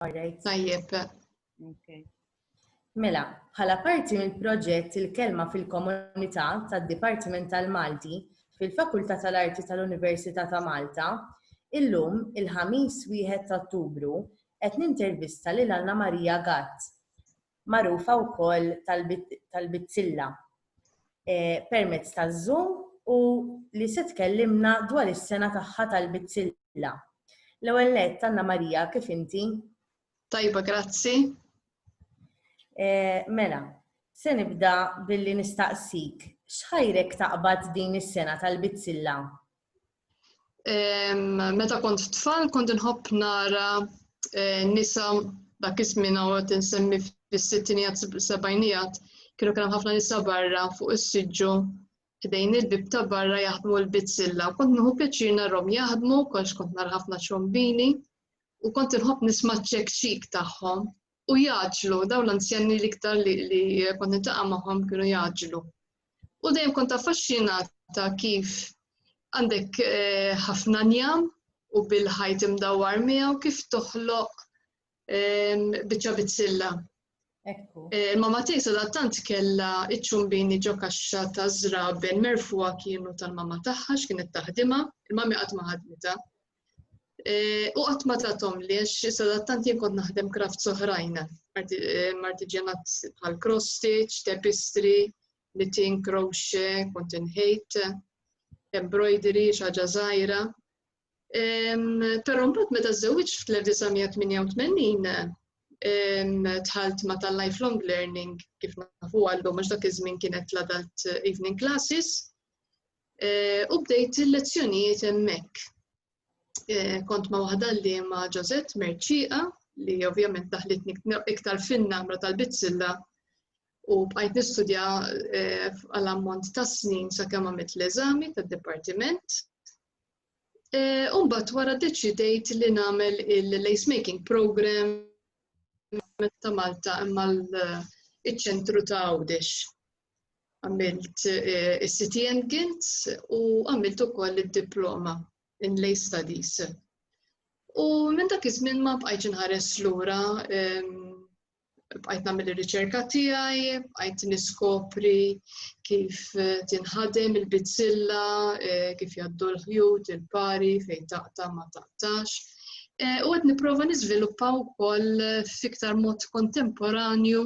Alright. Tajjeb. Okay. Mela, bħala parti mill-proġett il-kelma fil-komunità tad-Dipartiment tal-Malti fil-Fakultà tal-Arti tal-Università ta' Malta, illum il-ħamis wieħed ta' Ottubru qed nintervista lil Anna Maria Gatt. magħrufa wkoll tal-Bizzilla eh, permezz taż-Zoom u li se tkellimna dwar is-sena tagħha tal-Bizzilla. L-ewwel nett Anna Marija kif inti? Tajba, grazzi. Eh, mela, se nibda billi nistaqsik x'ħajrek taqbad din is-sena tal-Bizzilla? Meta kont tfal kont inħobb nara eh, nisa dak iż-żmien għawet insemmi fis-sittinijat sebajnijat kienu kien ħafna nisa barra fuq is-siġġu ħdejn il-bib ta' barra jaħdmu l-bizzilla. Kont nħu pjaċir narhom jaħdmu, kolx kont nar ħafna ċombini u kont inħobb nisma' ċekċik tagħhom u jaġlu dawn l-anzjani l-iktar li kont nitaqa' magħhom kienu jaġlu. U dejjem kont affaxxinata kif għandek eh, ħafna njam u bil-ħajt imdawwar miegħu kif toħloq ehm, biċċa bizzilla. Eh, mama tiegħi sadattant kellha iċ-ċumbini ġo kaxxa ta' żraben merfuha kienu tal-mama tagħha x'kienet taħdimha, il-mami qatt ma ħadmitha. Eh, u qatt ma tatom li għax sadattant jien kont naħdem kraft soħrajn, eh, martiġenat bħal cross stitch, tapestry, knitting, crochet, kont inħejt, embroidery, xaġa żgħira. Però mbagħad meta żewġ fl-1988 tħalt ma tal-lifelong learning kif nafu għallu mhux dak iż-żmien kienet l-adult evening classes Eh, u bdejt il-lezzjonijiet hemmhekk. Eh, kont ma' waħda li ma' Ġozet Merċiqa li ovvjament daħlitni iktar fin-namra tal-bizzilla u bqajt nistudja eh, għal ammont ta' snin sa' kemm għamilt l-eżami tad-dipartiment. Umbat wara deċidejt li nagħmel il-lace making program ta' Malta imma l-ċentru ta' Għawdex. għamilt eh, is-City and Guilds u għamilt ukoll id-diploma in lay studies. U minn dak iż-żmien ma bqajtx inħares lura ehm, bqajt nagħmel ir-riċerka tiegħi, bqajt niskopri kif eh, tinħadem il-bizzilla, eh, kif jgħaddu l-ħjut, il-pari, fejn taqta ma taqtax. U għed niprofa nizviluppa u koll fiktar mod kontemporanju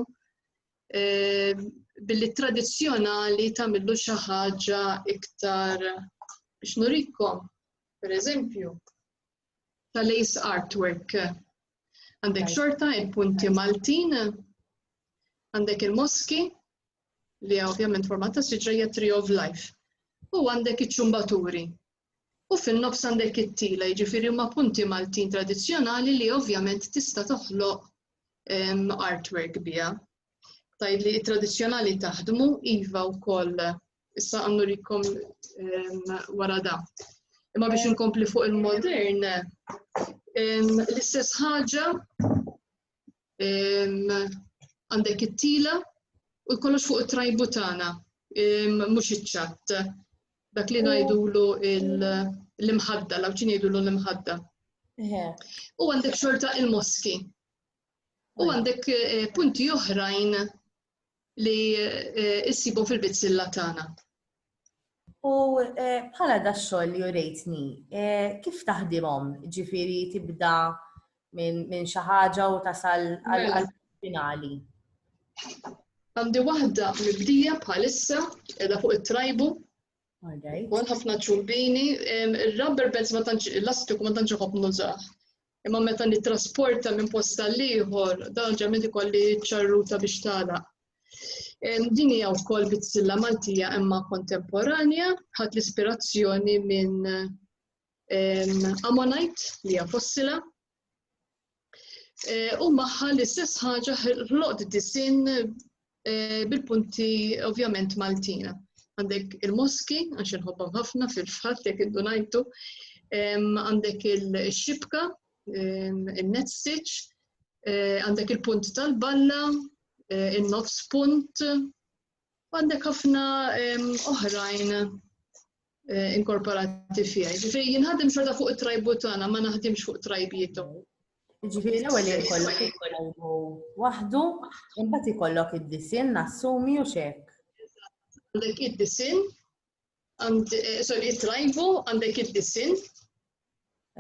billi tradizzjonali tagħmillu xi ħaġa iktar biex nurikom, per eżempju, tal-ace artwork. Għandek xorta il-punti Maltin, għandek il-moski, li ovvjament format ta' siġra hija Tree of Life. U għandek iċ-ċumbaturi, u fin-nofs għandek it-tila, jiġifieri huma punti Maltin tradizzjonali li ovvjament tista' toħloq ehm, artwork biha. Tgħid li t-tradizzjonali taħdmu iva wkoll issa għandu rikom ehm, wara da. Imma biex inkompli fuq il-modern, ehm, l-istess ħaġa għandek it-tila u jkollox fuq it-trajbu tagħna mhux iċ-ċatt. Dak li ngħidulu l-imħadda, law ċin jgħidulu l-imħadda. U għandek xorta il-moski. U għandek eh, punti oħrajn li issibhom fil-bizzilla tagħna. U bħala da xogħol li urejtni, kif taħdimhom? Ġifieri tibda minn xi ħaġa u tasal għal finali. Għandi waħda mibdija bħalissa edha fuq it-trajbu. Għal ħafna ċurbini, il-rubber bands ma tantx, l-astiku ma tantx ħobb nużaħ. Imma meta nittrasporta minn post għal ieħor, dan ġament ikolli ċarruta biex tagħlaq. Din hija wkoll bizzilla Maltija imma kontemporanja, ħadd l-ispirazzjoni minn Ammonite li hija fossila. E, u magħha l-istess ħaġa ħloqt disin Eh, bil-punti ovvjament Maltina. Għandek il-moski, għax nħobbhom ħafna fil-fatt jekk iddu ngħidu, għandek il-xibka, il-net stitch, eh, għandek il-punt tal-balla, eh, il-nofs punt, għandek ħafna oħrajn eh, inkorporati fija. Ġifiri, jinħadem xorta fuq it-trajbu tagħna, ma naħdimx fuq trajbijiet Ġifiri, l-ewwel jkollok it-trajbu waħdu, imbagħad ikollok id-disin nassumi u xek. Għandek id-disin, eh, sorry, it-trajbu, għandek id-disin,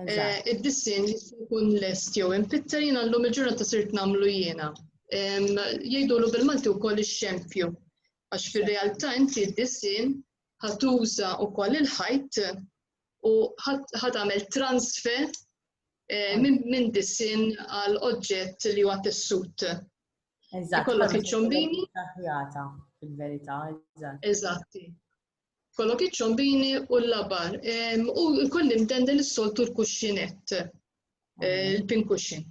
eh, Id-dissin jkun lest jew impitter jina l-lum il-ġurnata sirt namlu jiena. Jgħidulu bil-Malti u koll ix-xempju. Għax fil-realtà inti d-dissin ħatuża wkoll il-ħajt u ħat għamel transfer eh, minn disin għal oġġett li huwa tessut. Eżatt. Kollok iċ-ċombini. Fil-verità, eżatt. Eżatti. Kollok iċ-ċombini u l-labar. U l-koll imdendel is-soltu l-kuxxinett, eh, il-pinkuxin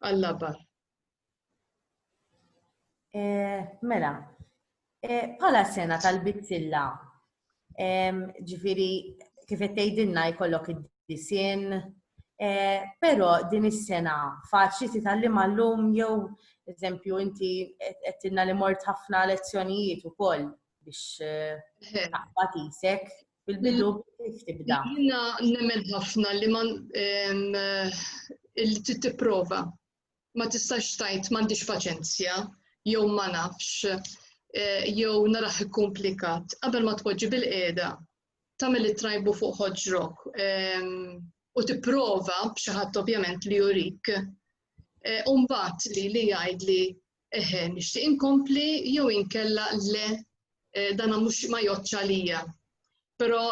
għal-labar. Eh, mela, eh, bħala sena tal-bizzilla, ġifiri, kif tgħidilna jkollok id-disien, eh, però din is-sena faċli titgħallim għallum jew eżempju inti qedtilna li mort ħafna lezzjonijiet ukoll biex taqbad isek fil-bidu kif tibda. Jiena nemmen ħafna li man li tipprova ma tistax tajt m'għandix paċenzja jew ma nafx eh, jew naraħ ikkumplikat qabel ma tpoġġi bil-qiegħda tagħmel it-trajbu fuq ħoġrok ehm, u tipprova b'xi ħadd ovvjament li jurik eh, u mbagħad li li jgħid li eħe nixtieq inkompli jew inkella le eh, dan mhux ma joċċa lija. Però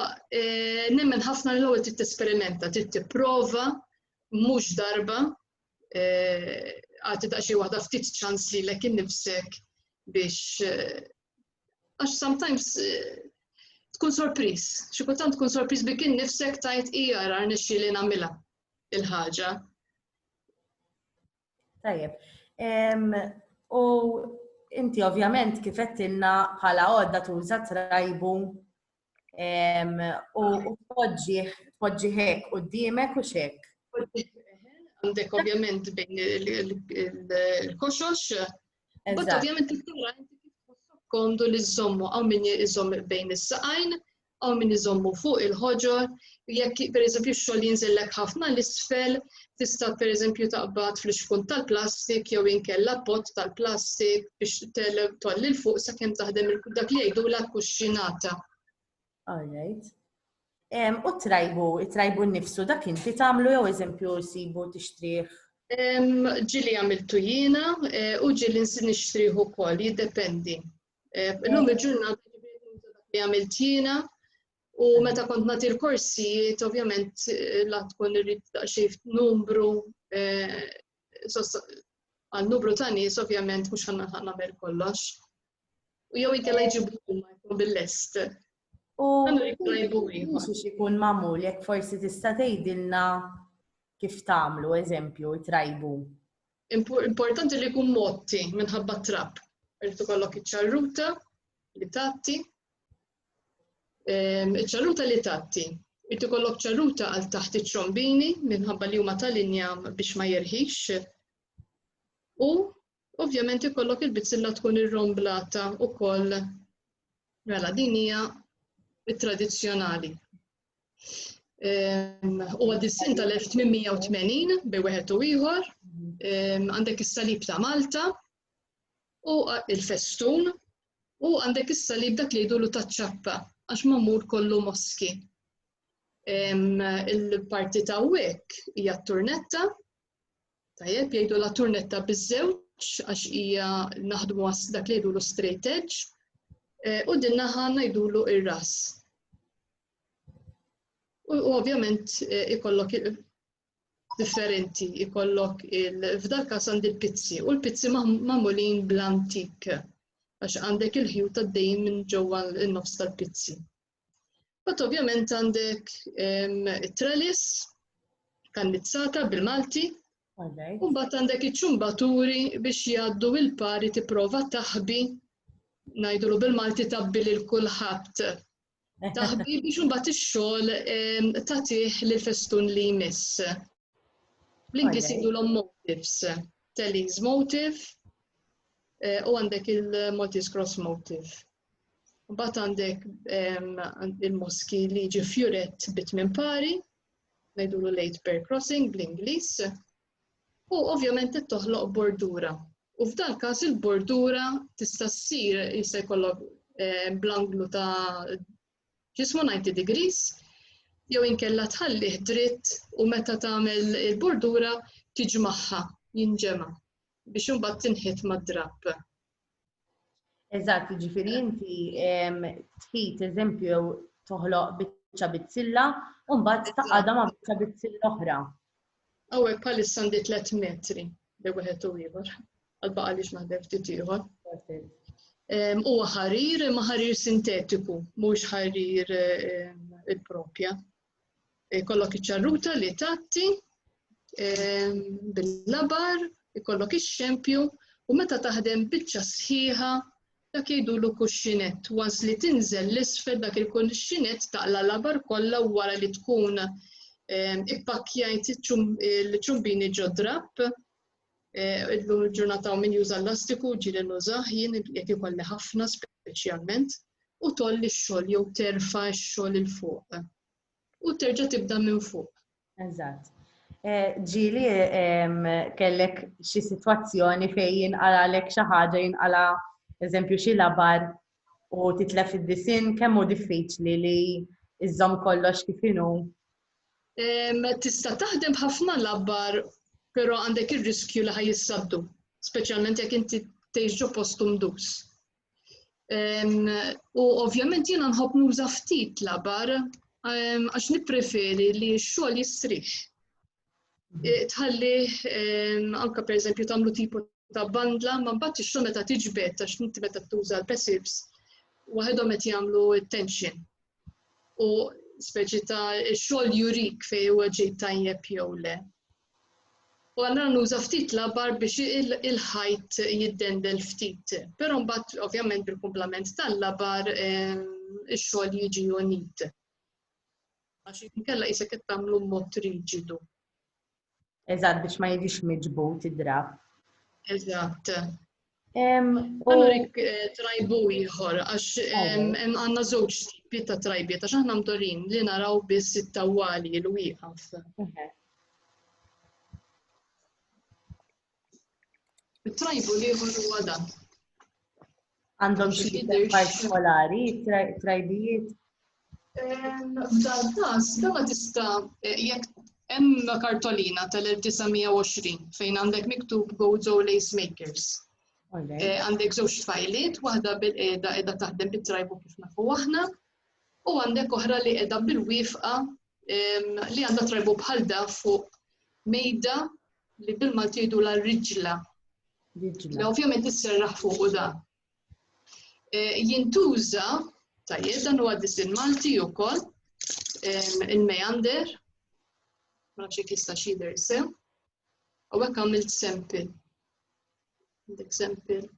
nemmen ħafna l-ewwel trid tesperimenta, trid tipprova mhux darba eh, għati ta' xi waħda ftit ċans li lek innifsek biex eh, għax sometimes eh, tkun sorpriż, xi kultant tkun sorpriż bi kien nifsek tajt hija ra nixxi li nagħmilha il-ħaġa. Tajjeb. U inti ovvjament kif qed bħala għodda tuża trajbu U tpoġġi hekk qudiemek u xek. Għandek ovvjament bejn il-koxox. Bat ovvjament il-tura komdu li żommu għaw min iżomm bejn is-saqajn, għaw min iżommu fuq il-ħoġor, jekk pereżempju x-xogħol jinżillek ħafna l isfel tista' pereżempju taqbad fl-ixkun tal-plastik jew inkella pot tal-plastik biex tolli l fuq sakemm taħdem dak li jgħidu la kuxxinata. Alright. U trajbu, trajbu nnifsu dak inti tagħmlu jew eżempju sibu tixtrih? Ġili għamiltu jiena e, u ġili nixtrih ukoll, jiddependi. E, illum il-ġurnata li għamilt jiena U meta kont nagħti l-korsijiet, ovvjament eh, la tkun irrid daqsxejn numru eh, għal numru ta' nies ovvjament mhux ħanna nagħmel kollox. U jew inkella jġibu huma jkun bil-lest. U mhux ikun magħmul jekk forsi tista' tgħidilna kif tagħmlu eżempju trajbu. Importanti li jkun motti minħabba trap. Irid ikollok iċ-ċarruta li tatti Ehm, iċ-ċaluta li tatti. Irid ikollok ċaluta għal taħt iċ-ċombini minħabba li huma tal-injam biex ma jerħix. U ovvjament ikollok il-bizzilla tkun irromblata wkoll mela din hija tradizzjonali. Ehm, u għad-dissin tal-1880 bej wieħed u ieħor, ehm, għandek is-salib ta' Malta u il-festun U għandek is-salib dak li jdulu taċ-ċappa għax magħmul kollu moski. Il-parti ta' wek hija t-turnetta, tajjeb jgħidu la turnetta biż-żewġ għax hija naħdmu għas dak li jdulu straight edge eh, u din naħa ngħidulu ir-ras. U ovvjament eh, ikollok differenti ikollok f'dal każ għandi l-pizzi u l-pizzi magħmulin bl-antik għax għandek il-ħjut għaddejjin minn ġewwa n-nofs tal-pizzi. Bat ovvjament għandek it-trelis kannizzata bil-Malti u mbagħad għandek iċ-ċumbaturi biex jgħaddu il-pari tipprova taħbi ngħidulu bil-Malti tabbi lil kulħadd taħbi biex imbagħad ix-xogħol ehm, tagħtih lil festun li jmiss. Bl-Ingliż jgħidulhom motifs, Telly's motif eh, u għandek il-Maltese cross motif. Mbagħad għandek ehm, il-moski li ġi fjuret bit minn pari, ngħidulu late pair crossing bl-Ingliż, u ovvjament qed toħloq bordura. U f'dan każ il-bordura tista' ssir jista' jkollok eh, bl-anglu ta' ġismu 90 degrees jew inkella tħallih dritt u meta tagħmel il-bordura tiġmaħħa jinġema' biex imbagħad tinħit mad-drapp. Eżatt, ġifiri inti tħid eżempju toħloq biċċa bizzilla u mbagħad taqgħadha ma' biċċa bizzilla oħra. Hawnhekk bħalissa għandi tliet metri li wieħed u ieħor għal baqa' li x'naħdem ftit ieħor. Huwa ħarir imma ħarir sintetiku, mhux ħarir il-propja. Ikollok iċ-ċarruta li tatti ehm, bil-labar, ikollok ix-xempju u meta taħdem biċċa sħiħa dak jgħidulu kuxxinett. Once li tinżel l-isfel dak il-kuxxinett taqla labar kollha wara li tkun ehm, ippakkjajt il-ċumbini ġo drapp Illum il-ġurnata hawn min juża l-lastiku, ġieli nużah jien jekk ikolli ħafna speċjalment, u tolli x-xogħol jew terfa' x-xogħol 'il fuq. U terġa' tibda minn fuq. Eżatt. Eh, ġieli ehm, kellek xi sitwazzjoni fejn jinqalgħalek xi ħaġa jinqala' eżempju xi labar u titlef id-disinn kemm hu diffiċli li iżżomm kollox kif inhu? Tista' taħdem b'ħafna labbar, però għandek ir-riskju li ħaj jissabdu, speċjalment jekk inti tgħix ġo post umdus. U ovvjament jiena nħobb nuża ftit labar għax nippreferi li x-xogħol jistrix. tħalli anka per eżempju tagħmlu tipu ta' bandla, ma mbagħad ix-xogħol meta tiġbed ta' x'inti meta tuża l-passives waħedhom qed jagħmlu tension. U speċi ta' xogħol jurik fejn huwa ġej tajjeb jew le. U għallura nuża ftit labar biex il-ħajt jiddendel ftit. Però mbagħad ovvjament bil-kumplament tal-labar ix-xogħol jiġi unit. Għax inkella jisek qed tagħmlu mod riġidu. Eżatt biex ma jiġix miġbut id-drab. Eżatt. Allura eh, trajbu ieħor, għax għandna żewġ tipi ta' trajbiet, għax aħna mdorin li naraw biss it-tawali l wieqaf. It-tribal ieħor huwa dan. Għandhom xi jidher partikolari, trajbijiet? Ehm, f'dan każ, dan ma tista' eh, jekk hemm kartolina tal-1920 fejn għandek miktub Gozo Lace Makers. Eh, għandek żewġ fajliet, waħda bil-qeda qiegħda taħdem bit-trajbu kif nafu aħna, u għandek oħra li qiegħda bil-wifqa ehm, li għandha trajbu bħal da fuq mejda li bil-Malti jgħidu la riġla. Li ovvjament isserraħ fuq u da. E, jintuża, tajjeb, dan huwa disin Malti wkoll, e, il-meander, ma nafx jekk jista' xider sew, u hekk għamilt sempil. Għandek sempil.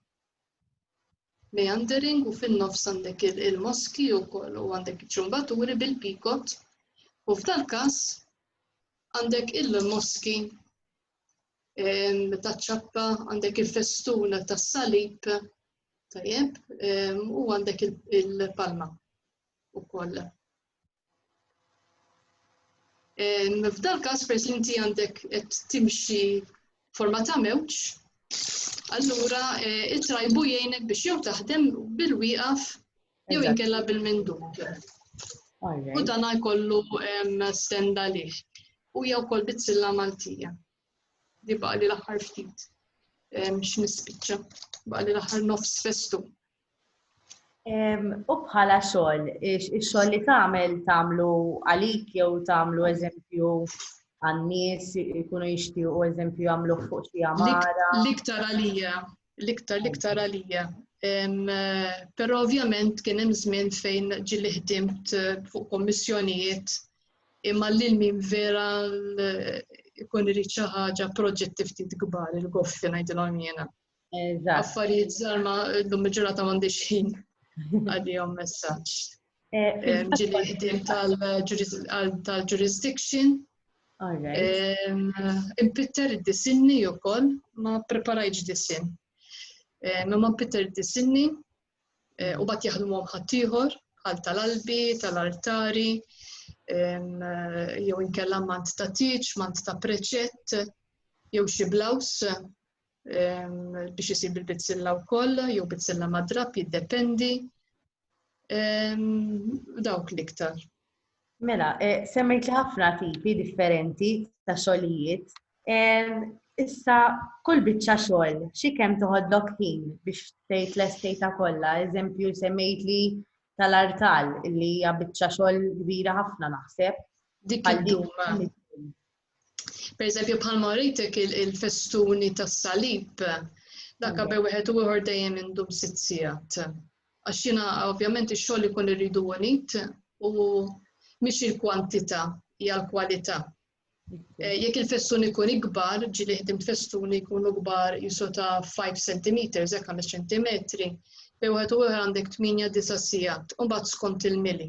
meandering u fin-nofs għandek il-moski wkoll u għandek iċ-ċumbaturi bil-pikot u f'dal-każ għandek il-moski taċ-ċappa, għandek il-festun tas-salib, tajjeb, u għandek il-palma wkoll. F'dal każ peress li inti għandek qed timxi forma ta' mewġ, allura eh, it-trajbu jgħinek biex jew taħdem bil-wieqaf jew inkella bil-mindum. U dan jkollu stenda liħ. U jew kol bizzilla Maltija. Di baqli l-aħħar ftit x'nispiċċa. Baqli l-aħħar nofs festu. U bħala xogħol, ix-xogħol li tagħmel tagħmlu għalik jew tagħmlu eżempju għan-nies ikunu jixtiequ eżempju jagħmlu fuq xi għamara. L-iktar għalija, l-iktar l-iktar għalija. Però ovvjament kien hemm żmien fejn ġili ħdimt eh, fuq kommissjonijiet imma lil min vera ikun irid xi ħaġa proġetti ftit kbar il-goffi ngħidilhom jiena. Affarijiet żgħar ma llum il-ġurnata m'għandix ħin għalihom messaġġ. Eh, eh, ġili ħdiem tal-jurisdiction. Impitter id-disinni u koll, ma preparajġ disin. Eh, ma ma impitter id-disinni u bat jaħdmu ħaddieħor bħal tal-albi, tal-artari, jew inkella mant ta' tiċ, mant ta' preċett, jew xi blaws biex isir bil-bizzilla wkoll jew bizzilla madrab jiddependi dawk l-iktar. Mela, eh, semmejt li ħafna tipi differenti ta' xogħlijiet. Issa kull biċċa xogħol xi kemm toħodlok ħin biex tgħid l-estejta kollha, eżempju semmejt li tal-artal li hija biċċa xogħol kbira ħafna naħseb. Dik Per eżempju, bħalma rejtek il-festuni tas-salib, dak bej wieħed u ieħor dejjem indum sitt sigħat. Għax jiena ovvjament ix-xogħol ikun irridu unit u mhix il-kwantità hija l-kwalità. Eh, jekk il-festun ikun ikbar, ġili ħdim festun ikun ikbar jisu ta' 5 cm, hekk 5 cm, bej wieħed u ieħor għandek 8-9 sigħat, u mbagħad skont il-mili.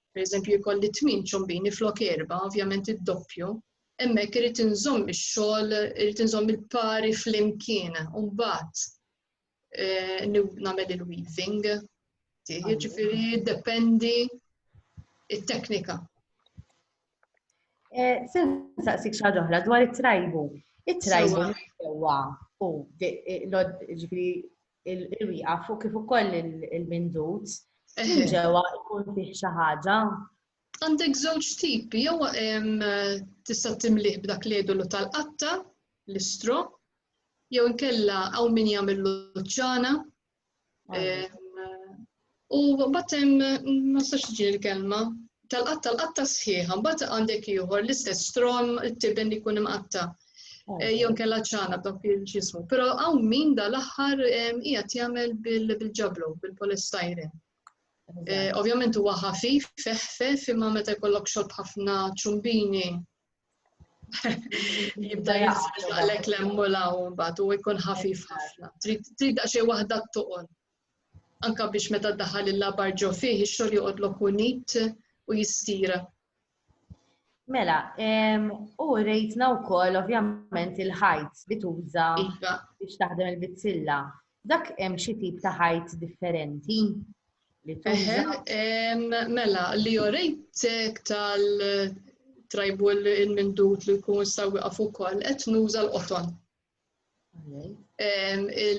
Per eżempju, jkolli tmien ċombini flok erba, ovvjament id-doppju, hemmhekk irid inżomm ix-xogħol, irid inżomm il-pari flimkien, u mbagħad eh, nagħmel il-weaving. Jiġifieri dependi it-teknika. Eh, sen saqsik xi oħra dwar it-trajbu. It-trajbu sewwa u eh, ġifieri il-wieqaf u kif ukoll il-mindut, minn ġewwa jkun fih xi ħaġa. Għandek żewġ tipi, jew tista' timlih b'dak l-edolu tal-qatta, l-istro, jew inkella hawn min jagħmel l-ċana, U mbagħad hemm ma nistax tiġi l-kelma tal-qatt tal-qatta sħiħa, mbagħad għandek ieħor l-istess strom it-tiben li jkun imqatta. Eh, Jon kella ċana b'dak il-ġismu. Però hawn min dal-aħħar hija jagħmel bil-ġablu, bil-polestajre. Eh, ovvjament huwa ħafif, feħfef, imma meta jkollok xorb ħafna ċumbini jibda jaqlek l-emmulaw mbagħad u jkun ħafif ħafna. Trid daqsxejn waħda toqgħod. anke biex meta ddaħħal il-labar ġo fih ix-xogħol joqgħod lok u nid u jistira. Mela, u rejtna wkoll ovvjament il-ħajt li tuża iva. biex taħdem il-bizzilla. Dak hemm xi tip ta' ħajt differenti? Mela, li jorejtek tal trajbu il-mindut li jkun sawi għafu kol, et nuża l-qoton.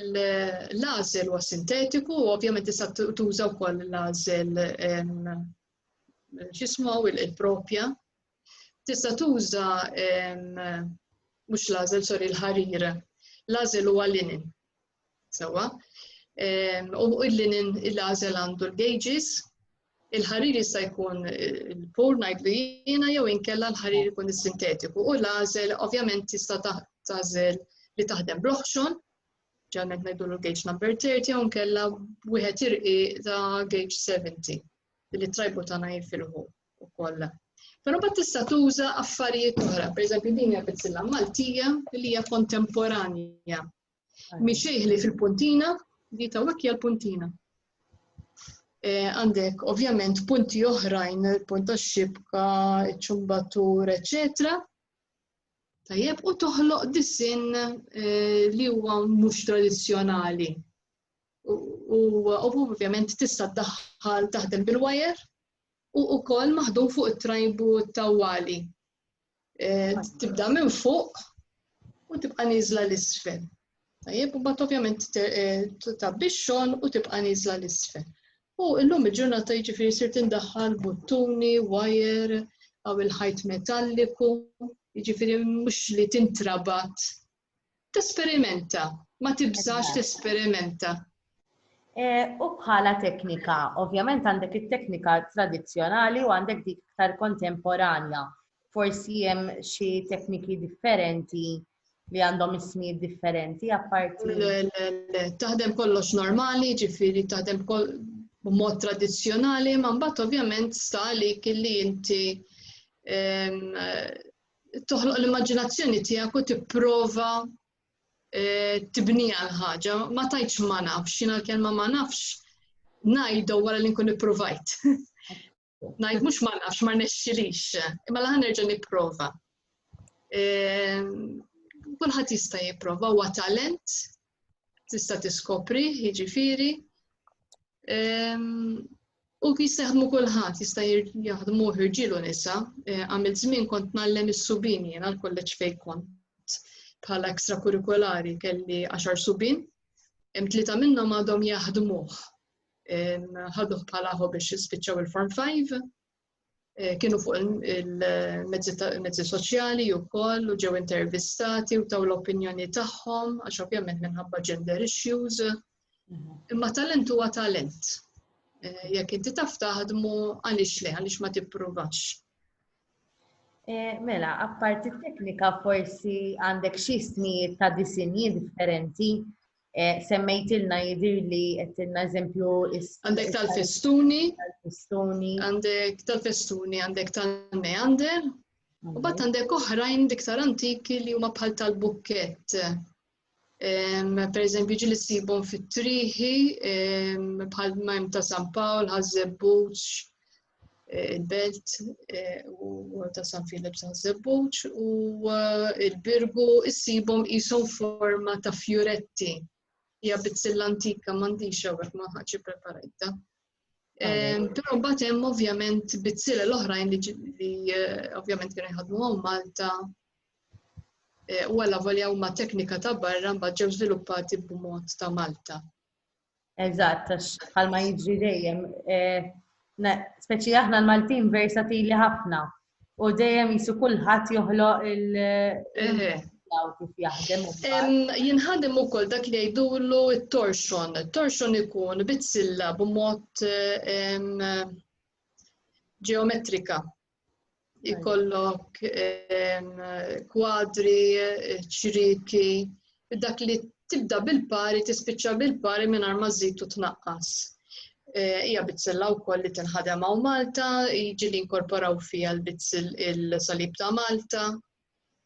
L-għażel huwa sintetiku u ovvjament tista' tuża wkoll l-għażel x'ismu il-propja. Tista' tuża mhux l-għażel sorry l-ħarir. L-għażel huwa linen. Sewwa. U l-linen l-għażel għandu l-gauges Il-ħarir jista' jkun il-pur ngħidlu jiena jew inkella l-ħarir ikun is-sintetiku u l-għażel ovvjament tista' tagħżel li taħdem bl-oħxon, ġalment ngħidu l-gauge number 30 jew inkella wieħed irqi ta' gauge 70 billi trajbu tagħna jifilħu wkoll. Però bat tista' tuża affarijiet oħra, pereżempju din hija bizzilla Maltija li hija kontemporanja Mixejħli fil-puntina, di ta' hija l-puntina. Eh, għandek ovvjament punti oħrajn, punt ta' xibka, ċumbatur, eccetera. Tajjeb, u toħloq disin eh, li huwa mhux tradizzjonali. U ovvjament tista' daħħal taħdem bil-wajer u wkoll maħdum fuq it-trajbu tawwali. Eh, tibda minn fuq u tibqa' niżla l-isfel. Tajjeb, u bat ovvjament eh, tabbi xogħol u tibqa' niżla l-isfel. U illum il-ġurnata jiġifieri sir tindaħħal buttuni, wajer, għaw il-ħajt metalliku, jiġifieri mhux li tintrabat Tesperimenta, ma tibżax tesperimenta. E, u bħala teknika, ovvjament għandek it-teknika tradizzjonali u għandek dik iktar kontemporanja. Forsi hemm xi tekniki differenti li għandhom ismijiet differenti apparti. Le, le, le, taħdem kollox normali, ġifiri taħdem b'mod tradizzjonali, ma mbagħad ovvjament sta għalik li inti toħloq l-immaġinazzjoni tiegħek u tipprova eh, tibnija l-ħaġa. Ma tajtx ma nafx, jiena l-kelma ma nafx ngħidu wara li nkun ippruvajt. Ngħid mhux ma nafx ma nexxilix, imma laħan nerġa' nipprova. Eh, kulħadd jista' jipprova huwa talent Tista' tiskopri, jiġifieri. Ehm, u jistaħdmu kulħadd, jista' jaħdmu ħirġilu nisa, eh, għamil żmien kont nallem is-subin jiena l-kolleġġ fejn kont bħala ekstrakurikulari kelli għaxar subin, tlieta minnhom għadhom jaħdmuh. Ehm, ħaduh bħala biex jispiċċaw il-Form 5, Eh, kienu fuq il-mezzi soċjali u koll u ġew intervistati u taw l-opinjoni tagħhom għax ovvjament minħabba gender issues. Mhm. Imma talent huwa talent. Eh, jekk inti taf taħdmu għaliex le, għaliex ma tippruvax. Eh, mela, apparti teknika forsi għandek xi snijiet ta' disinji differenti Eh, semmejtilna jidir li għettilna eżempju is. Għandek tal-festuni. Tal-festuni. Għandek tal-festuni, għandek tal-meander. U bat għandek oħrajn diktar antiki li huma bħal tal-bukket. Per eżempju, ġili sibon fit-triħi, bħal majm ta' San Pawl, ħazzebbuċ, eh, il-Belt eh, u ta' San Filip San Zebbuċ u eh, il-Birgu issibhom qishom forma ta' fjuretti. Hija bizzilla antika m'għandix hawnhekk ma ħaġi preparajta. Però mbagħad hemm ovvjament bizzilla l-oħrajn li ovvjament kienu jħadmu Malta u għalla volja huma teknika ta' barra mbagħad ġew żviluppati b'mod ta' Malta. Eżatt, għax bħalma jiġri dejjem. Eh, speċi aħna l-Maltin versatili ħafna u dejjem jisu kulħadd joħloq il- eh. Jinħadem ukoll dak li jgħidulu t-torsion. Torsion ikun bizzilla b'mod ġeometrika. ikollok kwadri, ċriki, dak li tibda bil-pari, tispiċċa bil-pari minn ma żid u tnaqqas. Eh, hija bizzilla wkoll li tinħadem hawn Malta, jiġi li inkorporaw fiha l-bizzil il-salib ta' Malta.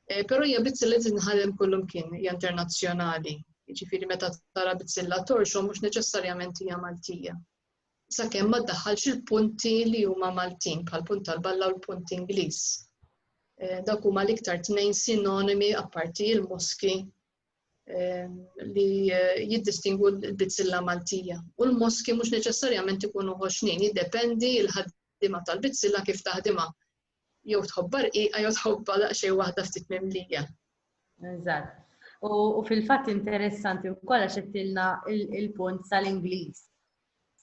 Eh, però hija bizzilla li tinħadem kullum kien, hija internazzjonali. Jiġifieri meta tara bizzilla torxhom mhux neċessarjament hija Maltija. sakemm ma ddaħħalx il-punti li huma Maltin bħal punt tal-balla u l-punt Ingliż. Eh, dak huma l-iktar tnejn sinonimi apparti il-moski eh, li eh, jiddistingu l-bizzilla Maltija. U l-moski mhux neċessarjament ikunu ħoxnin, jiddependi il-ħaddima tal-bizzilla kif taħdima. Jew tħobbha rqiqa jew tħobbha daqsxejn waħda ftit mimlija. Eżatt. U fil-fatt interessanti wkoll għax qedtilna il-punt tal-Ingliż.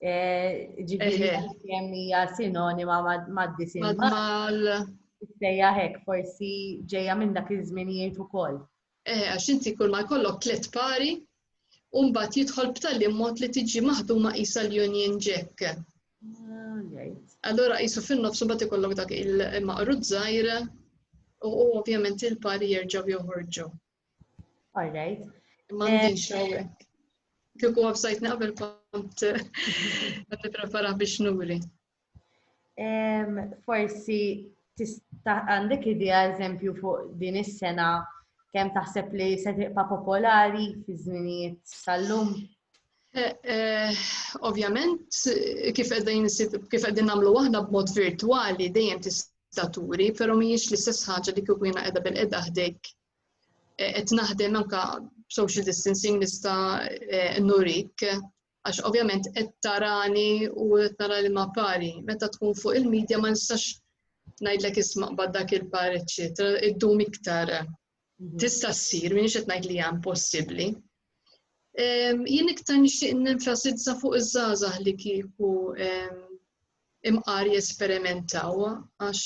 Eh, ġifieri kemm hija sinonima mad-disin. Mal. Sejja hekk forsi ġejja minn dak iż-żminijiet ukoll. Eh, għax inti kull ma jkollok tliet pari, u mbagħad jidħol b'tali mod li tiġi maħduma qisha l-Union Jack. Allura qisu fin-nofs mbagħad ikollok dak il-maqrud żgħir u ovvjament il-pari jerġgħu joħorġu. All right. Ma għandix eh, hawnhekk. Kieku websajt naqbel kont qed nipprepara biex nuri. Forsi tista' għandek idea eżempju fuq din is-sena kemm taħseb li se tibqa' popolari fi żminijiet tal-lum? Eh, eh, ovvjament, kif qegħdin nagħmlu aħna b'mod virtwali dejjem tista' turi, però mhijiex l-istess ħaġa li kieku jiena qiegħda bil-qeda ħdejk. Eh, qed naħdem anke social distancing nista' nurik għax ovvjament qed tarani u qed nara li ma pari. Meta tkun fuq il-medja ma nistax ngħidlek isma' qbad dak il-par, eċċetera, iddum iktar. Mhm. Tista' ssir, minix qed ngħid li hija impossibbli. Jien iktar nixtieq nenfasizza fuq iż-żgħażagħ li kieku imqar jesperimentaw għax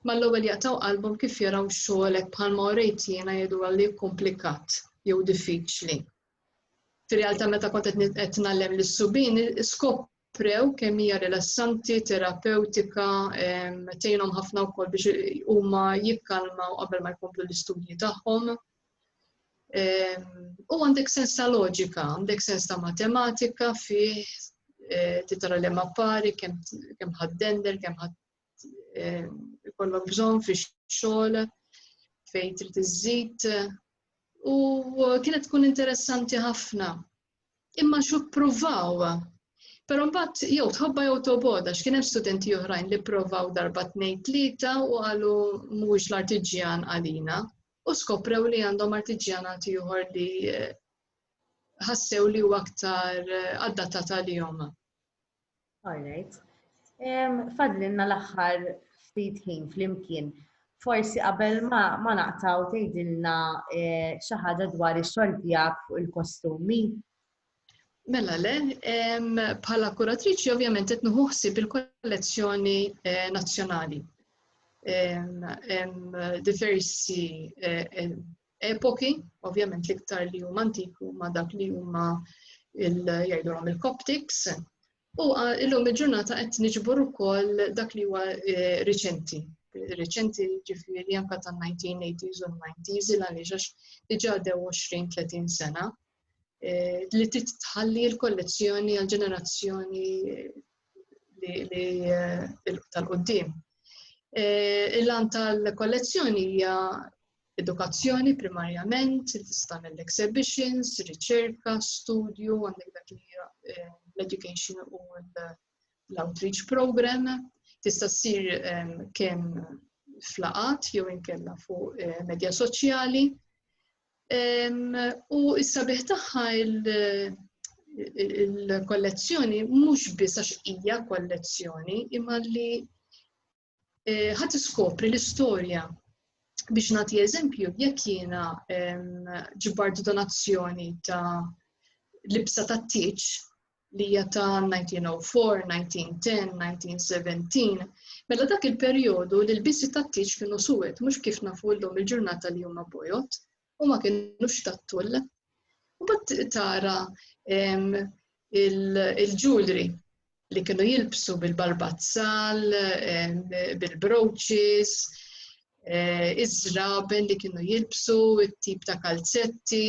mal-ewwel jaqtaw qalbhom kif jaraw xogħolek bħalma orejt jiena jgħidu li komplikat jew diffiċli. Fir-realtà meta kont qed ngħallem lis-subien skop prew kemm hija rilassanti, terapewtika, tgħinhom ħafna wkoll biex huma jikkalmaw qabel ma jkomplu l-istudji tagħhom. U għandek sens ta' loġika, għandek sens ta' matematika fih e, titara li ma pari, kemm ħaddender, kemm ħadd eh, ikollok bżonn fix-xogħol fejn trid iżżid u kienet tkun interessanti ħafna. Imma xu pruvaw. Però mbagħad jew tħobba jew toboda x'kien hemm studenti oħrajn li provaw darba tnejn tlieta u qalu mhuwiex l-artiġjan għalina u skoprew li għandhom artiġjanat ieħor li eh, ħassew li huwa aktar eh, adattata li jom. Alright. Fadlinna l-aħħar ftit ħin flimkien. Forsi qabel ma ma naqtaw tgħidilna eh, xi ħaġa dwar ix-xogħol tiegħek fuq il-kostumi. Mela le, em, bħala kuratriċi ovvjament qed nieħu ħsieb il-kollezzjoni eh, nazzjonali. Em, em, diversi eh, em, epoki, ovvjament l-iktar li huma antiku ma dak li huma jgħidulhom il-Coptics, u illum il-ġurnata qed niġbor ukoll dak li huwa eh, riċenti. Riċenti ġifieri anke tan-1980s u 90s il għaliex għax diġà dew 20-30 sena li titħalli l-kollezzjoni għal ġenerazzjoni li tal-qoddim. Il-lan tal-kollezzjoni hija edukazzjoni primarjament, tista' l-exhibitions, riċerka, studju, għandek dak li eh, l-education u l-outreach program, tista' ssir eh, kemm flaqat jew inkella fuq eh, medja soċjali. U s-sabiħ tagħha il-kollezzjoni mhux biss għax hija kollezzjoni, imma li eh, ħadd iskopri l-istorja biex nagħti eżempju jekk jiena ġibart donazzjoni ta' libsa ta' tiċ li hija ta' 1904, 1910, 1917, mela dak il-perjodu li l-biżi tat-tieġ kienu suwed mhux kif nafu llum il-ġurnata li huma bojot u ma kienux tat-tull. U bat tara il-ġulri li kienu jilbsu bil-barbazzal, bil-broċis, eh, iż-żraben li kienu jilbsu, it-tip ta' kalzetti,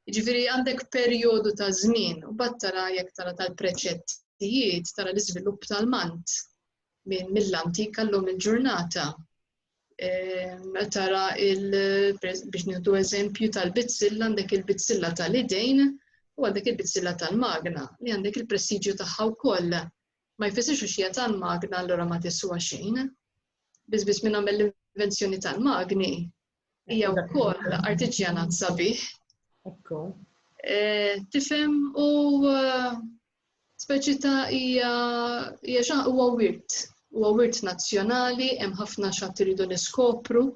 Jiġifieri għandek perjodu ta' żmien u bad tara jekk tara tal-preċettijiet tara l-iżvilupp tal-mant minn mill-antik għallum il-ġurnata. Ehm, tara biex nieħdu eżempju tal-bizzilla għandek il-bizzilla tal-idejn u għandek il-bizzilla tal-magna li għandek il-prestiġju tagħha wkoll. Ma jfissirx u xija tal-magna allura ma tiswa xejn. Biss biss minn għamel l-invenzjoni tal-magni Hija wkoll artiġjanat sabiħ. Ekku. Eh, tifhem u eh, speċi ta' hija hija huwa wirt. Huwa wirt nazzjonali, hemm ħafna xatt iridu niskopru.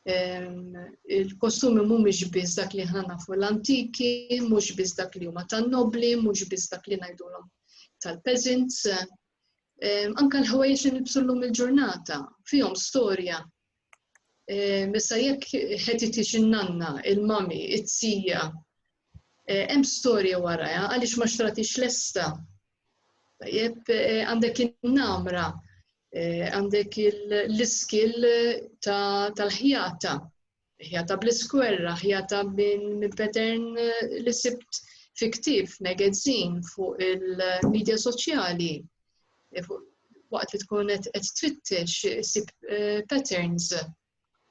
Il-kostumi mhumiex biss dak li ħna nafu l-antiki, mhux biss dak li huma tan-nobli, mhux biss dak li ngħidulhom tal-peasants. Anka l-ħwejjex li nibsu llum il-ġurnata fihom storja Ehm, issa jekk ħetitix in-nanna, il-mami, it-tija, eh, hemm storja waraja għaliex ma xtratix lesta. Tajjeb, eh, għandek in-namra, eh, għandek l-iskil tal-ħjata, ħjata bl-iskwerra, ħjata minn pattern li sibt fi ktif, magazin, fuq il-medja soċjali, waqt li tkun qed twittex sib eh, patterns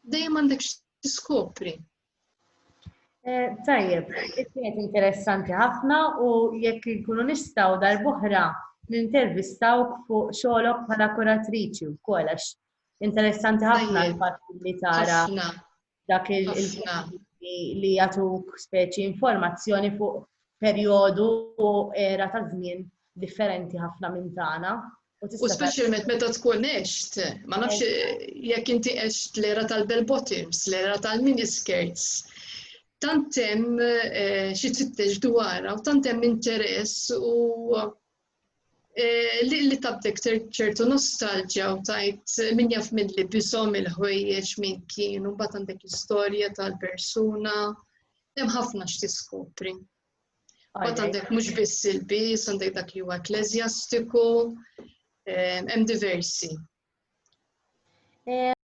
dejjem għandek tiskopri. Eh, tajjeb, kienet interessanti ħafna u jekk nkunu nistgħu darb'oħra nintervistawk fuq xogħolok bħala kuratriċi wkoll għax interessanti ħafna l-fatt li tara dak il li jatuk speċi informazzjoni fuq perjodu u era ta' żmien differenti ħafna minn tagħna. U speċjalment meta tkun eċt, ma nafx jekk inti eċt l-era tal-bell bottoms, l-era tal-miniskirts, tantem eh, xi tfittex dwarha u tantem interess u Eh, li tabtek ċertu nostalġja u tajt min jaf minn li bisom il-ħwejjeġ minn kienu, bat għandek istorja tal-persuna, hemm ħafna x'tiskopri. Bat għandek mhux biss il-bis, għandek dak li huwa ekklesjastiku, eh, hemm diversi. Eh,